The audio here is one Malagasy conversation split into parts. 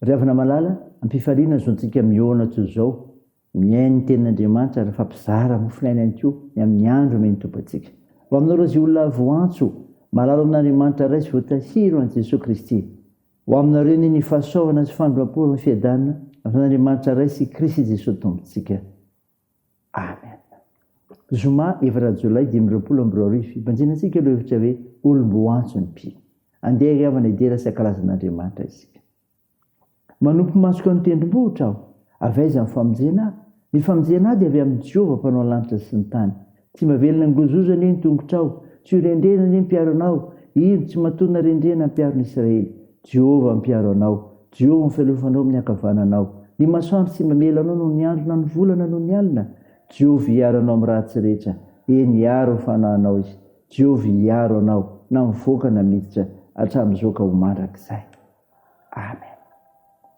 Ry havana malala, ampifariana ny zontsika mihaona toy izao, mihaino ny tenin'Andriamanitra ary mifampizara mofon'aina ihany koa ny amin'ny andro omeny Tompo antsika. Ho aminareo izay olona voantso, malala amin'Andriamanitra Ray sy voatahiry ho an'i Jesoa Kristy. Ho aminareo anie ny fahasoavana sy fandroampo ary ny fiadanana avy amin'Andriamanitra Ray sy Krisy Jesoa Tompontsika. Amen. Zoma efatra jolay dimy amby roapolo amby roa arivo, hibanjina antsika ireo hevitra hoe olom-bo antso ny mpino. Andeha hihavana hidera sy hankalaza an'Andriamanitra isika. Manompo masoka ny tendrombohitra aho. Avy aiza ny famonjena ahy? Ny famonjena ahy dia avy amin'i Jehovah mpanao lanitra sy ny tany. Tsy mba velona angozoza anie ny tongotrao, tsy ho rendrena anie ny mpiaro anao, indro, tsy mahatonina rendrena ny mpiaro ny Israely. Jehovah no mpiaro anao, Jehovah no fialofanao amin'ny ankavananao. Ny masoandro tsy mamela anao noho ny andro na ny volana noho ny alina. Jehovah hiaro anao amin'ny ratsy rehetra, eny, hiaro ny fanahinao izy. Jehovah hiaro anao na mivoaka na miditra, hatramin'izao ka ho mandrakizay. Amen.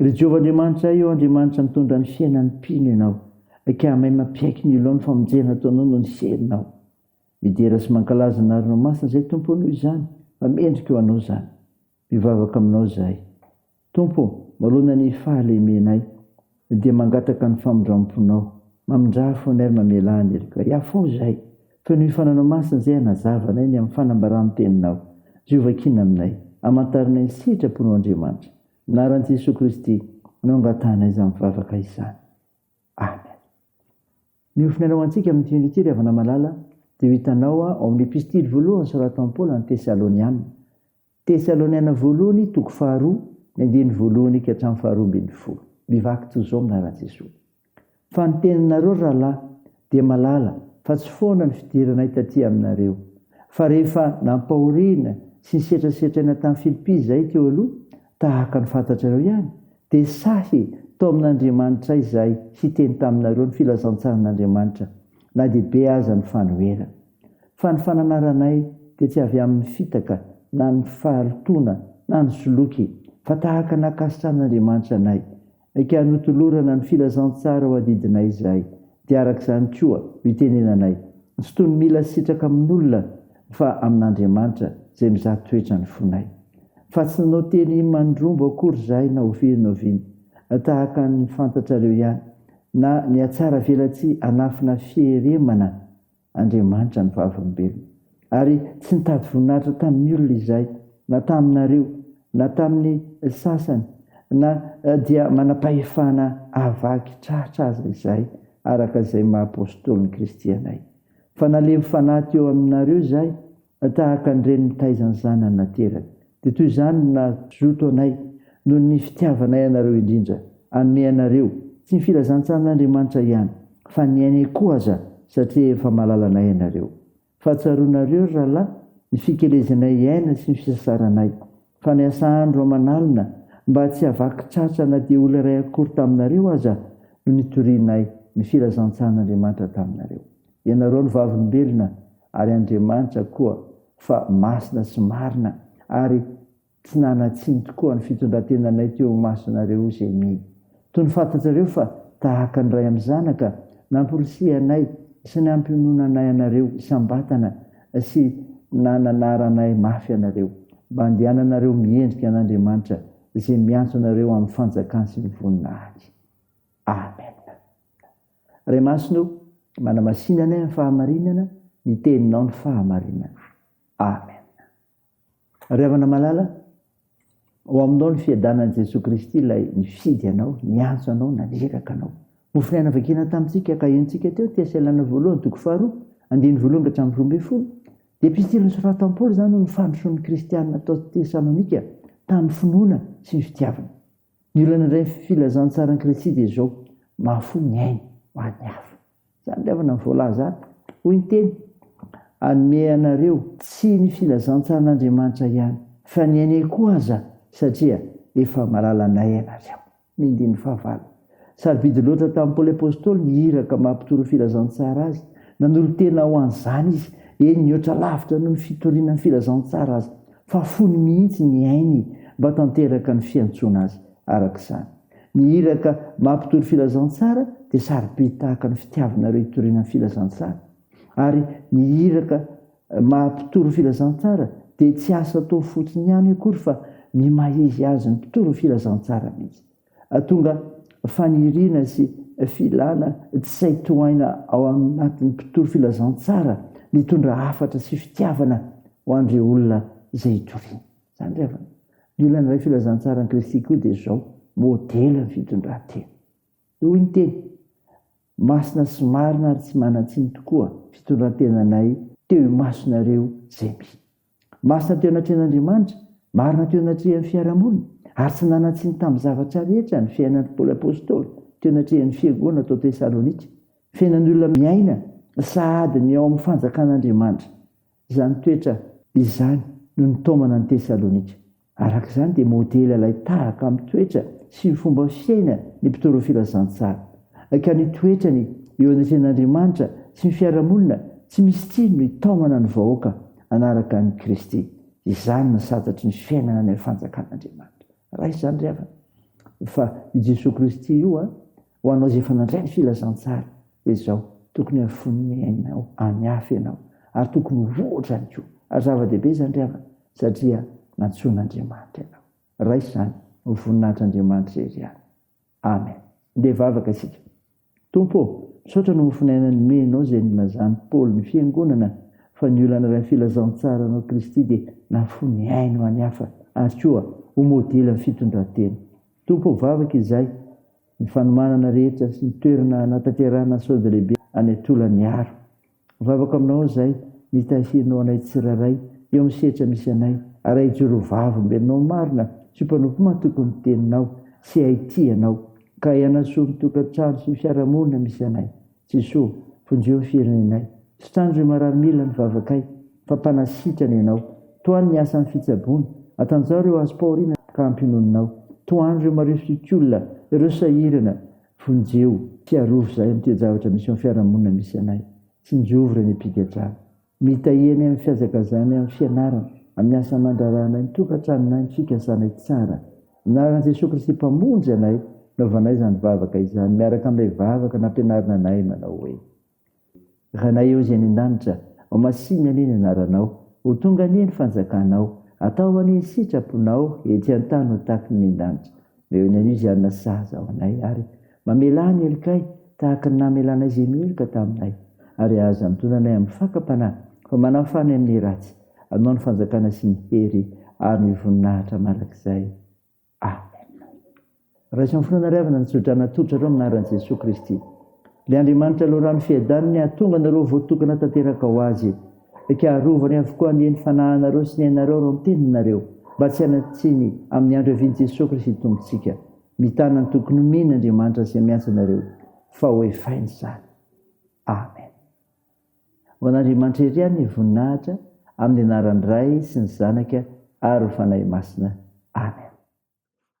Ry Jehovah Andriamanitra ahy ô, Andriamanitra mitondra ny fiainan'ny mpino ianao, Akamay mampiaiky ny olona ny famonjena ataonao noho ny serinao. Midera sy mankalaza ny arinao masina izahay, Tompo ô, noho izany, fa mendrika ho anao izany. Mivavaka aminao izahay. Tompo ô, marona ny fahalemenay. Dia mangataka ny famindram-ponao. Mamindrà fo anay ary mamelà an'i Erika. Hiafoa izahay. Toy ny mifananao masina izay hanazava anay ny amin'ny fanambaràn'ny Teninao. Izay ho vakiana aminay. Amantaranay ny sitraponao Andriamanitra. Anaran'i Jesoa Kristy no angatahanay izany vavaka izany. Amen. Miofona Ianao ho antsika amin'ity andro ity, ry havana malala, dia ho hitanao ao amin'ny Epistily voalohany soratan'i Paoly an'ny Tesaloniana. Tesaloniana Voalohany toko faharoa ny andininy voalohany ka hatramin'ny faharoa ambin'ny folo. Mivaky toy izao ny laharan'i Jesoa. Fa ny teninareo rahalahy dia malala fa tsy foana ny fidiranay taty aminareo. Fa rehefa nampahoriana sy nisetrasetraina tany Filipy izahay teo aloha, tahaka ny fantatrareo ihany, dia sahy tao amin'Andriamanitra ahy izahay hiteny taminareo ny filazantsaran'Andriamanitra, na dia be aza ny fanoherana. Fa ny fananaranay dia tsy avy amin'ny fitaka na ny faharitoana na ny soloky, fa tahaka ny ankasitrahan'Andriamanitra anay. Eka, hanotolorana ny filazantsara ho adidinay izahay, dia araka izany koa no itenenanay, tsy toy ny mila sitraka amin'olona, fa amin'Andriamanitra izay mizaha toetra ny fonay. Fa tsy nanao teny mandrombo akory izahay na oviana na oviana, tahaka ny fantatrareo ihany, na nihatsaravelatsihy hanafina fieremana, Andriamanitra ny vavolombelony. Ary tsy nitady voninahitra tamin'ny olona izahay, na taminareo, na tamin'ny sasany, na dia manam-pahefana hahavaky tratra aza izahay, araka izay maha-apostolin'i Kristy anay. Fa nalemy fanahy teo aminareo izahay, Tahaka ny reny mitaiza ny zanany naterany, dia toy izany no nazoto anay, noho ny fitiavanay anareo indrindra, hanome anareo, tsy ny filazantsaran'Andriamanitra ihany, fa ny ainay koa aza, satria efa malala anay ianareo. Fa tsaroanareo, ry rahalahy, ny fikelezanay hiaina sy ny fisasaranay, fa niasa andro aman'alina, mba tsy hahavaky tratra na dia olona iray akory taminareo aza, no nitorianay ny filazantsaran'Andriamanitra taminareo. Ianareo no vavolombelona ary Andriamanitra koa fa masina sy marina ary tsy nanatsiny tokoa ny fitondran-tenanay teo imasonareo izay mino. Toy ny fantatrareo fa tahaka ny ray amin'ny zanaka, namporisihanay sy nampiononanay anareo isam-batana sy nananaranay mafy anareo mba handehananareo miendrika an'Andriamanitra izay miantso anareo amin'ny fanjakany sy ny voninahiny. Amena. Ray Masina o, manamasina anay amin'ny fahamarinana, ny Teninao no fahamarinana. Amen. Ry havana malala, ao aminao ny fiadanan'i Jesoa Kristy ilay nifidy anao, niantso anao, naniraka anao. Mofonaina vakina tamintsika ka henontsika teo, Tehaselana voalohany, toko faharoa, andininy voalohany ka hatramin'ny roa ambin'ny folo. Dia epistiliny soratan'i Paoly izany ho ny fandrosoan'ny kristianina tao Tesalonika tamin'ny finoana sy ny fitiavana. Ny olana indray ny filazantsaran'i Kristy dia izao, Mahafoy ny ainy ho an'ny hafa. Izany ilay havana voalaza ato. Hoy ny Teny, Hanome anareo, tsy ny filazantsaran'Andriamanitra ihany, fa ny ainay koa aza, satria efa mahalala anay ianareo. Ny andininy fahavalo. Sarobidy loatra tamin'i Paoly Apostoly ny iraka mampitoroa filazantsara azy. Nanolo-tena ho an'izany izy, eny, nihoatra lavitra noho ny fitoriana ny filazantsara aza. fa fony mihitsy ny ainy mba tanteraka ny fiantsoana azy araka izany. Ny iraka mampitory filazantsara dia sarobidy tahaka ny fitiavanareo hitoriana ny filazantsara. Ary ny iraka mampitory filazantsara dia tsy asa atao fotsiny ihany akory fa miha-maha-izy azy ny mpitory ny filazantsara mihitsy. Ahatonga faniriana sy filana tsy sahy tohaina ao anatin'ny mpitory filazantsara ny hitondra hafatra sy fitiavana ho an'ireo olona izay itoriany. Izany re havana. Ny olona niray filazantsaran'i Kristy koa dia izao, modelin'ny fitondran-tena. Dia hoy ny teny, Masina sy marina ary tsy manan-tsiny tokoa fitondran-tenanay teo imasonareo izay mby. Masina teo anatrehan'Andriamanitra, marina teo anatrehan'ny fiarahamonina, ary tsy nanan-tsiny tamin'ny zavatra rehetra ny fiainan'i Paoly Apostoly teo anatrehan'ny fiangonana tao Tesalonika, fiainan'ny olona miaina sahady ny ao amin'ny fanjakan'Andriamanitra. Izany toetra izany no nitaomana an'i Tesalonika. Araka izany, dia modely ilay tahaka amin'ny toetra sy ny fomba fiaina ny mpitory ny filazantsara, ka ny toetrany eo anatrehan'Andriamanitra sy ny fiarahamonina tsy misy tsiny no itaomana ny vahoaka hanaraka an'i Kristy. Izany no santatry ny fiainana any amin'ny Fanjakan'Andriamanitra. Raha izany ry havana, fa io Jesoa Kristy io, Ho anao izay efa nandray ny filazantsara dia izao, tokony hafoy ny ainao any hafa ianao ary tokony ho ohatra ihany koa ary zava-dehibe izany ry havana satria nantsoin'Andriamanitra ianao. Raiso izany ho voninahitr'Andriamanitra irery ihany. Amen. Ndeha vavaka isika. Tompo ô, misaotra noho ny fonenana nomenao izay nilazan'i Paoly ny fiangonana fa ny olona naray ny filazantsaranao Kristy dia nafoy ny ainy ho any hafa ary koa ho modely amin'ny fitondran-tena. Tompo ô, vavaka izahay ny fanomanana rehetra sy ny toerana hanatanterahana sode lehibe any Antolagnaro. Mivavaka aminao aho izay ny tahirinao anay tsirairay eo amin'ny sehatra misy anay ary hahijoro ho vavolombelonao marina sy ho mpanompo matoky ny teninao sy hahitia anao ka hanasoa ny tokantrano sy ny fiarahamonina misy anay. Jeso, vonjeo ny firenenay. Sitrano ireo marary mila ny vavakay, fa mpanasitrana Ianao. Tohano ny asan'ny fitsaboana, atanjaho ireo azo pahoriana ka ampiononinao. Tohano ireo marefitryolona, ireo sahirana, vonjeo sy arovy izahay amin'ny toe-javatra misy eo amin'ny fiarahamonina misy anay. Tsinjovy ireo miampinga-drano. Mitahy eny amin'ny fihazakazahany amin'ny fianarana, amin'ny asa aman-draharaha anay, ny tokantranonay, ny fikasanay tsara. Anaran'i Jesoa Kristy Mpamonjy anay no anaovanay izany vavaka izany, miaraka amin'ilay vavaka nampianarina anay manao hoe, Ranay ao izay any an-danitra, homasihina anie ny anaranao, ho tonga anie ny fanjakanao, atao anie ny sitraponao ety an-tany ho tahaka ny any an-danitra. Eo ny anio izay hanana sazy ao anay, ary mamelà ny helokay tahaka ny namelanay izay meloka taminay, ary aza antonona anay amin'ny fakam-panahy, fa manafà anay amin'ny ratsy, anao ny fanjakana sy ny hery ary ny voninahitra mandrakizay. Amena. Raiso amin'ny fonao nariavana ny tso-drano natolotrareo amin'ny anaran'i Jesoa Kristy. Ilay Andriamanitra Loharano Fiadany ny hahatonga anareo voatokana tanteraka ho Azy. Eka arovany avokoa anie ny fanahinareo sy ny ainareo raha miteny nareo mba tsy hanatsiny amin'ny andro hiavian'i Jesoa Kristy Tompontsika. Mitana ny tokony homeny Andriamanitra izay miantso anareo fa ho efainy izany. Amen. Ho an'Andriamanitra ery any ny voninahitra amin'ny anaran'ny Ray sy ny Zanaka ary ny Fanahy Masina. Amen.